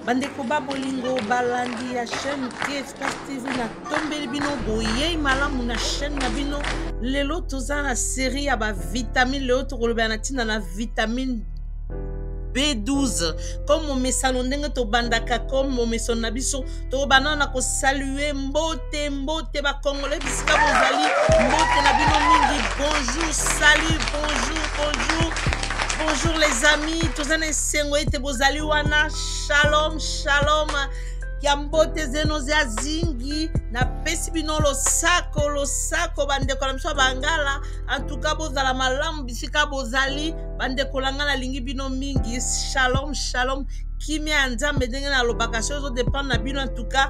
bandeko ba bolingo balandi ya chaîne tfs tv natombeli bino boyei malamu na chaîne na bino lelo toza na série ya bavitamine lelo tokolobela na ntina na vitamine b12 comme momesano ndenge tobandaka comme momesano na biso tokobanda na kosalue mbote mbote mbote bakongole bisika bozali mbote na bino mingi bonjour salut bonjour bonjour bonjour les amis toza na esengo ete bozali wana shalom shalom ya mbote zeno zya zingi napesi bino losako losako bandeko na biso ya bangala antuka bozala malamu bisika bozali bandeko na ngai nalingi bino mingi shalom shalom kimia ya nzambe ndenge nalobaka soki ezodependre na bino antuka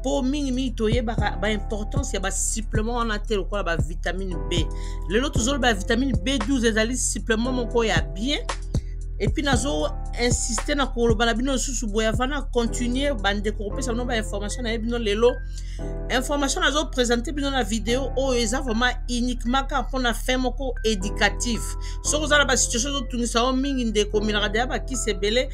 mpo mingimingi toyebaka baimportance ya basupplement wana te lokola bavitamine b lelo tozoloba ya vitamine b12 ezali supplement moko ya bien epuis nazo insiste na koloba na bino lisusu boye avant na continue bandeko kopesa bino bainformation na ye bino lelo information nazo présente bino na video oyo eza vraiment uniquement kaka mpona fin moko éducative soki oza na basituation ezotungisa yo mingi ndeko omelaka deya bakisi ebele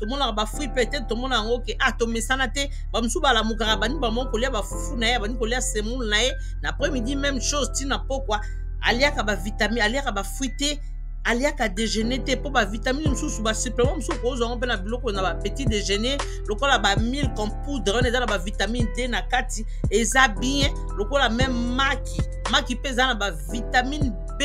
tomonaka bafui mpe te tomona yango ke a ah, tomesana te bamosusu balamukaka bani bamoko kolia bafufu na ye bani kolia semoule na ye na après midi même chose ntina pokwa aliaka bavitamine aliaka bafui te aliaka déjeuner te mpo bavitamine mosusu basupplement mosusu okozwa yango mpe na biloko na bapetit déjeuner lokola bamilk en poudre wana eza na bavitamine te na kati eza bien lokola meme maki maki mpe eza na bavitamine b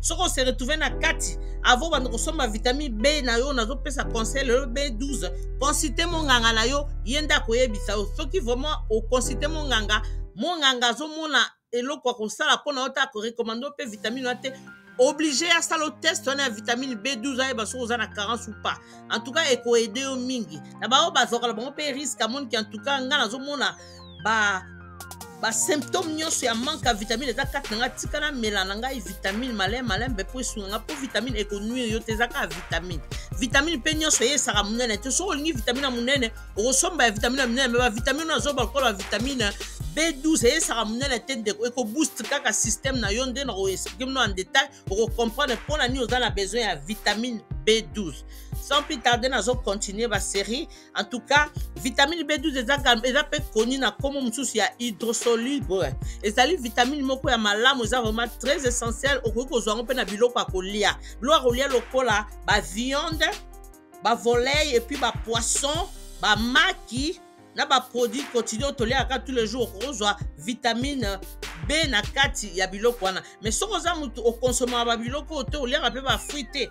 soki ose retrouve na kati avo banda kosomba vitamine b na yo nazopesa conseil lelo b12 consulte monganga na yo ye nde akoyebisa yo soki vraiment oconsulte monganga monganga azomona eloko ya kosala mpona yo te akorekomande mpe vitamine wana te oblige asala o test wana ya vitamine b12 ayeba soki oza na carence ou pas en tout cas ekoede yo mingi na baoyo bazwaka na bango mpe risque amoniki en tout cas ngai nazomona ba basymptôme nyonso ya manque ya vitamine eza kati na ngai tika namela na ngai vitamine malai malai mpe mpo esunga ngai mpo vitamine ekonuire yo te eza kaka vitamine vitamine mpe nyonso eyesaka monene te soki olingi vitamine ya monene okosomba ya vitamine ya monene me bavitamine oyo azoba lokola bavitamine b12 eyesaka monene te ndeko ekobooste kaka système na yo nde na koexplike mino en détail okocomprendre mpo na nini oza na besoin ya vitamine b12 sans plus tarde nazocontinue basérie en tout cas vitamine b12 eza, eza mpe koni na nkombo mosusu ya hydrosoluble ezali vitamine moko ya malamu eza vraiment très essentiel okoki kozwa yango mpe na biloko ya kolia biloko ya kolia lokola baviande bavolei epuis bapoisson bamaki na baproduit quotidien toliaka tous les jours okozwa vitamine be na kati ya biloko wana mais soki oza moto okonsomaka babiloko oyo te oliaka mpe bafruit te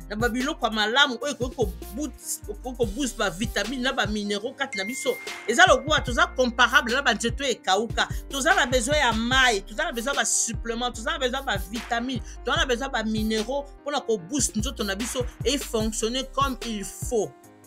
na babiloko ya malamu oyo ekoki koboost bavitamine na baminero kati na biso eza lokola toza comparable na banzeto ekauka toza na besoin ya mai toza na besoin ya basupplement toza na besoin ya bavitamine toza na besoin ya baminero mpona koboost nzoto na biso efonctionne comme il faut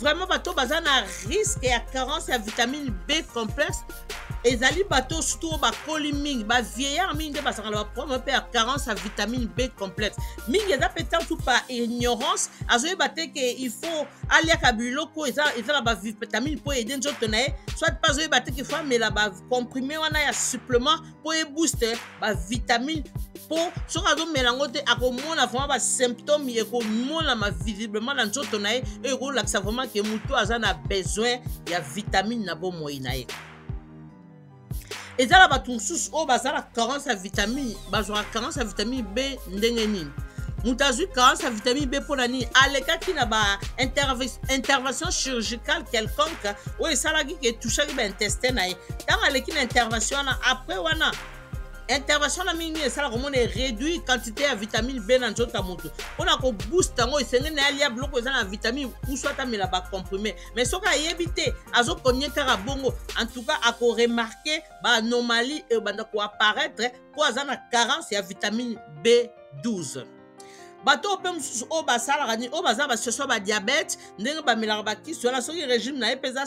vraiment bato baza na risque ya carence ya vitamine b complexe ezali bato surtout oyo bakoli mingi bavieillard mingi nde bazalaka na baproblème mpe ya carence ya vitamine b complexe mingi eza mpe ntantu par ignorance azoyeba te ke il faut aliaka biloko eza na bavitamine mpo ede nzoto na ye soit mpe azoyeba te ke fo amela bacomprime wana ya supplement mpo ebooste bavitamine mpo soki azomela yango te akomona vraiment basymptome ekomonama visiblement na nzoto na ye oyo ekolakisa vraiment ke motu aza na besoin ya vitamine na bomoi na ye eza na bato mosusu oyo baza na carence ya vitamine bazwaka carence ya vitamine b ndenge nini moto azwi carence ya vitamine b mpo na nini alekaki na ba intervention chirurgicale quelconque oyo esalaki ke touchaki baintestin na ye ntango aleki na intervention wana après wana intervention na mingi esalaka omona eréduit quantité ya vitamine b na nzoto ya moto mpona kobooste yango esengeli na ye alia biloko eza na vitamine usu atamela bacomprime mais soki ayebi te azokonye kaka bongo en tout cas akoremarke baanomalie ebanda koapparaître mpo aza na carence ya vitamine b12 bato oyo mpe mosusu oyo basalaka nini oyo baza basituation ya badiabete ndenge bamelaka bakisi wana soki régime na ye mpe eza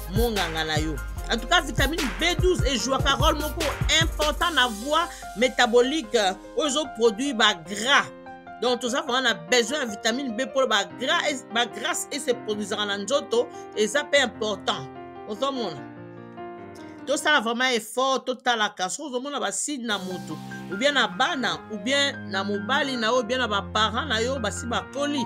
monganga na yo en tout cas vitamine b12 ejouaka role moko important na voie métabolique euh, oyo ezoproduire bagras donc toza vraiment na besoin ya vitamine b mpo bagrace ese produisaka na nzoto eza mpe important ozomona tosala vraiment effort totalaka soki ozomona baside na motu oubien na bana oubien na mobali na yo oubien na baparent na yo basi bakoli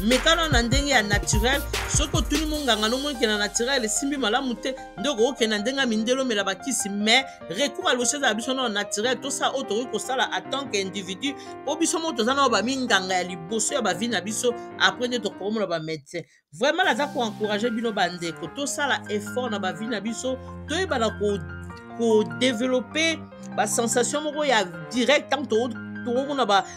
meka nano na ndenge ya naturel soki otuni monganga nomoni ke na naturel esimbi malamu te nde okokokende na ndenge ya mindele omela bakisi mais recours ya loso ezala biso nao naturel tosala oyo tokoki kosala en tant que individu mpo biso moko toza nao baminganga ya liboso ya bavi na biso apres nde tokomona bamédecin vraiment naza koencourage bino bandeko tosala effort na bavi na biso toyebana kodeveloppe basensation moko ya direct ntango tokomona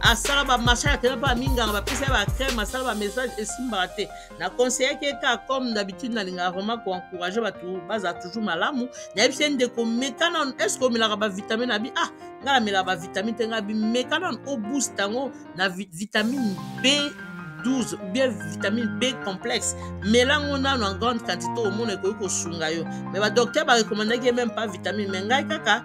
asala bamachin akenda mpe aminganga bapesa ye bacrème asala bamessage esimbaka te na conseillaki ye kaka comme d'habitude nalingaka vraiment koencourage bato bazala toujours malamu nayebisi ye ndeko meka nano estce omelaka bavitamine na bi ah ngai namelaka bavitamine te ngai bimeka nano oboost yango na vitamine b 12 ou bien vitamine b complexe melango nano en grande quantité omona ekoki kosunga yo mais badocteur barekomandaki ye meme pas vitamine mais ngai kaka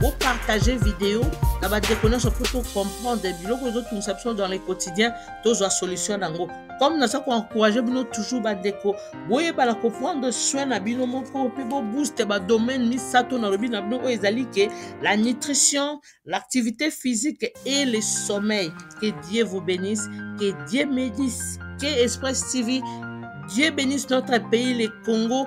bopartage video na bandeko nyonso mpo tocomprendre biloko ezotungisa biso dans le quotidien tozwa solution na yango comme naza koencourage bino toujours bandeko boyebala koprendre soin na bino moko mpe bobooste badomaine misato nalobi na bino oyo ezali ke la nutrition l'activité physique et le sommeil que dieu vous bénisse que dieu médise que express tv Dieu bénisse notre pays, le Congo.